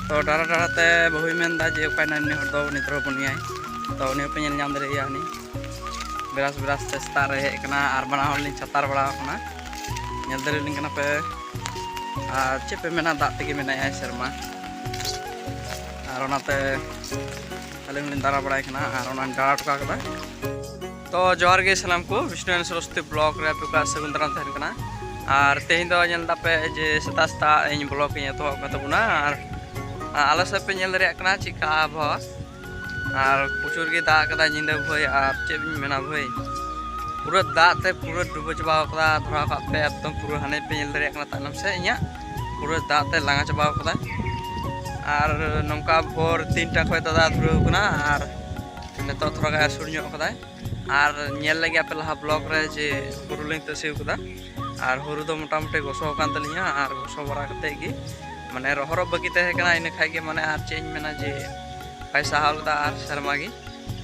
ᱛᱚ ᱰᱟᱨᱟ ᱰᱟᱨᱟ ᱛᱮ ᱵᱟᱹᱦᱩᱭ ᱢᱮᱱ ᱮᱫᱟ ᱡᱮ ᱚᱠᱟᱭ ᱱᱟᱭ ᱩᱱᱤ ᱦᱚᱲ ᱫᱚ ᱩᱱᱤ ᱫᱷᱚᱨᱚ ᱵᱚᱱᱤᱭᱟᱭ ᱛᱚ ᱩᱱᱤ ᱦᱚᱸᱯᱮ ᱧᱮᱞ ᱧᱟᱢ ᱫᱟᱲᱮᱭᱟᱭᱟ ᱩᱱᱤ ᱵᱮᱨᱟᱥ ᱵᱮᱨᱟᱥ ᱛᱮ ᱥᱮᱛᱟᱜ ᱨᱮ ᱦᱮᱡ ᱟᱠᱟᱱᱟ ᱟᱨ ᱵᱟᱱᱟ ᱦᱚᱲ ᱞᱤᱧ ᱪᱷᱟᱛᱟᱨ ᱵᱟᱲᱟ ᱟᱠᱟᱱᱟ ᱧᱮᱞ ᱫᱟᱲᱮ ᱞᱤᱧ ᱠᱟᱱᱟ ᱯᱮ ᱟᱨ ᱪᱮᱫ ᱯᱮ ᱢᱮᱱᱟ ᱫᱟᱜ ᱛᱮᱜᱮ ᱢᱮᱱᱟᱭᱟ ᱥᱮᱨᱢᱟ ᱟᱨ ᱚᱱᱟᱛᱮ ᱟᱹᱞᱤᱧ ᱞᱤᱧ ᱫᱟᱨᱟ ᱵᱟᱲᱟᱭ ᱠᱟᱱᱟ ᱟᱨ ᱚᱱᱟᱧ ᱫᱟᱨᱟ ᱴᱚᱠᱟ ᱠᱟᱫᱟ ᱛᱚ ᱡᱚᱦᱟᱨ ᱜᱮ ᱥᱟᱱᱟᱢ ᱠᱚ ᱵᱤᱥᱱᱩ ᱮᱱ ᱥᱚᱨᱚᱥᱛᱤ ᱵᱞᱚᱜ ᱨᱮ ᱟᱯᱮ ᱠᱚᱣᱟᱜ ᱥᱟᱹᱜᱩᱱ ᱫᱟᱨᱟᱢ ᱛᱟᱦᱮᱱ ᱠᱟᱱᱟ ᱟᱨ ᱛᱮᱦᱮᱧ ᱫᱚ ᱧᱮᱞ ᱫᱟᱯᱮ ᱡᱮ ᱥᱮᱛᱟᱜ ᱥᱮᱛᱟᱜ ᱤᱧ ᱵᱞᱚᱜ ᱤᱧ ᱮᱛᱚᱦᱚᱵ ᱠᱟᱱ ᱛᱟᱵᱚᱱᱟ ᱟᱨ ᱟᱞᱮ ᱥᱮᱫ ᱯᱮ ᱧᱮᱞ ᱫᱟᱲᱮᱭᱟᱜ ᱠᱟᱱᱟ ᱪᱮᱫᱠᱟ ᱟᱵᱚᱦᱟᱣᱟ ᱟᱨ ᱯᱨᱚᱪᱩᱨ ᱜᱮ ᱫᱟᱜ ᱟᱠᱟᱫᱟ ᱧᱤᱫᱟᱹ ᱵᱷᱟᱹᱭ ᱟᱨ ᱪᱮᱫ ᱤᱧ ᱢᱮᱱᱟ ᱵᱷᱟᱹᱭ ᱯᱩᱨᱟᱹ ᱫᱟᱜ ᱛᱮ ᱯᱩᱨᱟᱹ ᱰᱩᱵᱟᱹ ᱪᱟᱵᱟ ᱟᱠᱟᱫᱟ ᱫᱷᱚᱨᱟᱣ ᱠᱟᱜ ᱯᱮ ᱮᱠᱫᱚᱢ ᱯᱩᱨᱟᱹ ᱦᱟᱱᱮ ᱯᱮ ᱧᱮᱞ ᱫᱟᱲᱮᱭᱟᱜ ᱠᱟᱱᱟ ᱛᱟᱭᱱᱚᱢ ᱥᱮᱫ ᱤᱧᱟᱹᱜ ᱯᱩᱨᱟᱹ ᱫᱟᱜ ᱛᱮ ᱞᱟᱸᱜᱟ ᱪᱟᱵᱟ ᱟᱠᱟᱫᱟ ᱟᱨ ᱱᱚᱝᱠᱟ ᱵᱷᱳᱨ ᱛᱤᱱᱴᱟ ᱠᱷᱚᱱ ᱫᱟᱫᱟ ᱫᱷᱩᱨᱟᱹᱣ ᱠᱟᱱᱟ ᱟᱨ ᱱᱤᱛᱚᱜ ᱛᱷᱚᱲᱟ ᱜᱟᱱ ᱟᱹᱥᱩᱨ ᱧᱚᱜ ᱠᱟᱫᱟᱭ ᱟᱨ ᱧᱮᱞ ᱞᱮᱜᱮ ᱟᱯᱮ ᱞᱟᱦᱟ ᱵᱞᱚᱜ ᱨᱮ ᱡᱮ ᱦᱩᱲᱩ ᱞᱤᱧ ᱛᱟᱹᱥᱤ ᱠᱟᱫᱟ ᱟᱨ ᱦᱩᱲᱩ ᱫᱚ ᱢᱚᱴᱟᱢᱩᱴᱤ ᱜᱚᱥᱚ ᱟᱠᱟᱱ ᱛᱟᱹᱞᱤᱧᱟ ᱟᱨ ᱜᱚᱥᱚ ᱵᱟᱲᱟ ᱠᱟᱛᱮᱫ ᱜᱮ ᱢᱟᱱᱮ ᱨᱚᱦᱚᱨᱚᱜ ᱵᱟᱹᱠᱤ ᱛᱟᱦᱮᱸ ᱠᱟᱱᱟ ᱤᱱᱟᱹ ᱠᱷᱟᱡ ᱜᱮ ᱢᱟᱱᱮ ᱟᱨ ᱪᱮᱫ ᱤᱧ ᱢᱮᱱᱟ ᱡᱮ ᱵᱟᱭ ᱥᱟᱦᱟᱣ ᱞᱮᱫᱟ ᱟᱨ ᱥᱮᱨᱢᱟ ᱜᱮ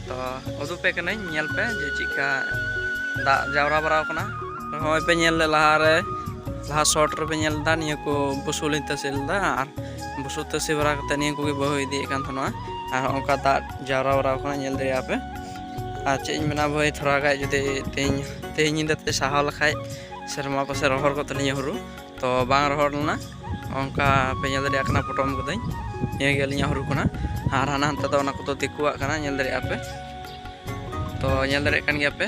ᱛᱚ ᱩᱫᱩᱜ ᱯᱮ ᱠᱟᱹᱱᱟᱹᱧ ᱧᱮᱞ ᱯᱮ ᱡᱮ ᱪᱮᱫᱠᱟ ᱫᱟᱜ ᱡᱟᱣᱨᱟ ᱵᱟᱲᱟᱣ ᱠᱟᱱᱟ ᱱᱚᱜᱼᱚᱭ ᱯᱮ ᱧᱮᱞ ᱞᱮ ᱞᱟᱦᱟᱨᱮ ᱞᱟᱦᱟ ᱥᱚᱴ ᱨᱮᱯᱮ ᱧᱮᱞ ᱞᱮᱫᱟ ᱱᱤᱭᱟᱹ ᱠᱚ ᱵᱩᱥᱩᱵ ᱞᱤᱧ ᱛᱟᱹᱥᱤ ᱞᱮᱫᱟ ᱟᱨ ᱵᱩᱥᱩᱵ ᱛᱟᱹᱥᱤ ᱵᱟᱲᱟ ᱠᱟᱛᱮᱫ ᱱᱤᱭᱟᱹ ᱠᱚᱜᱮ ᱵᱟᱹᱦᱩ ᱤᱫᱤᱭᱮᱫ ᱠᱟᱱ ᱛᱟᱦᱮᱱᱟ ᱟᱨ ᱚᱱᱠᱟ ᱫᱟᱜ ᱡᱟᱣᱨᱟ ᱵᱟᱲᱟᱣ ᱠᱟᱱᱟ ᱧᱮᱞ ᱫᱟᱲᱮᱭᱟᱜᱼᱟ ᱯᱮ ᱟᱨ ᱪᱮᱫ ᱤᱧ ᱢᱮᱱᱟ ᱵᱷᱟᱹᱭ ᱛᱷᱚᱲᱟ ᱜᱟᱱ ᱡᱩᱫᱤ ᱛᱮᱦᱮᱧ ᱛᱮᱦᱮᱧ ᱧᱤᱫᱟᱹ ᱛᱮ ᱥᱟᱦᱟᱣ ᱞᱮᱠᱷᱟᱡ ᱥᱮᱨᱢᱟ ᱯᱟᱥᱮ ᱨᱚᱦᱚᱲ ᱠᱚᱜ ᱛᱟᱹᱞᱤᱧᱟ ᱦᱩᱲᱩ ᱛᱚ ᱵᱟᱝ ᱨᱚᱦᱚᱲ ᱞᱮᱱᱟ ᱚᱱᱠᱟ ᱯᱮ ᱧᱮᱞ ᱫᱟᱲᱮᱭᱟᱜ ᱠᱟᱱᱟ ᱯᱚᱴᱚᱢ ᱠᱟᱹᱫᱟᱹᱧ ᱱᱤᱭᱟᱹ ᱜᱮ ᱟᱹᱞᱤᱧᱟᱜ ᱦᱩᱲᱩ ᱠᱟᱱᱟ ᱟᱨ ᱦᱟᱱᱟ ᱦᱟᱱᱛᱮ ᱫᱚ ᱚᱱᱟ ᱠᱚᱫᱚ ᱫᱤᱠᱩᱣᱟᱜ ᱠᱟᱱᱟ ᱧᱮᱞ ᱫᱟᱲᱮᱭᱟᱜᱼᱟ ᱯᱮ ᱛᱚ ᱧᱮᱞ ᱫᱟᱲᱮᱭᱟᱜ ᱠᱟᱱ ᱜᱮᱭᱟ ᱯᱮ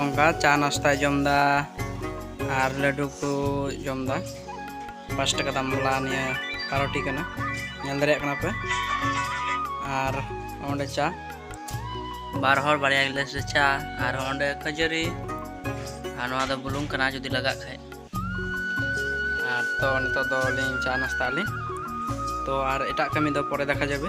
ᱚᱱᱠᱟ ᱪᱟ ᱱᱟᱥᱛᱟᱭ ᱡᱚᱢᱫᱟ ᱟᱨ ᱞᱟᱹᱰᱩ ᱠᱚ ᱡᱚᱢᱫᱟ ᱯᱟᱸᱪ ᱴᱟᱠᱟ ᱫᱟᱢ ᱵᱟᱞᱟ ᱱᱤᱭᱟᱹ ᱯᱟᱨᱚᱴᱤ ᱠᱟᱱᱟ ᱧᱮᱞ ᱫᱟᱲᱮᱭᱟᱜ ᱠᱟᱱᱟ ᱯᱮ ᱟᱨ ᱚᱸᱰᱮ ᱪᱟ ᱵᱟᱨ ᱦᱚᱲ ᱵᱟᱨᱭᱟ ᱜᱤᱞᱟᱹᱥ ᱨᱮ ᱪᱟ ᱟᱨ ᱚᱸᱰᱮ ᱠᱷᱟᱹᱡᱟᱹᱲᱤ ᱟᱨ ᱱᱚᱣᱟ ᱫᱚ ᱵᱩᱞᱩᱝ ᱠᱟᱱᱟ ᱡᱩᱫᱤ ᱞᱟᱜᱟᱜ ᱠᱷᱟᱡ ᱟᱨ ᱛᱚ ᱱᱤᱛᱚᱜ ᱫᱚ ᱞᱤᱧ ᱪᱟ ᱱᱟᱥᱛᱟ ᱟᱹᱞᱤᱧ ᱛᱚ ᱟᱨ ᱮᱴᱟᱜ ᱠᱟᱹᱢᱤ ᱫᱚ ᱯᱚᱨᱮ ᱫᱮᱠᱷᱟ ᱡᱟᱵᱮ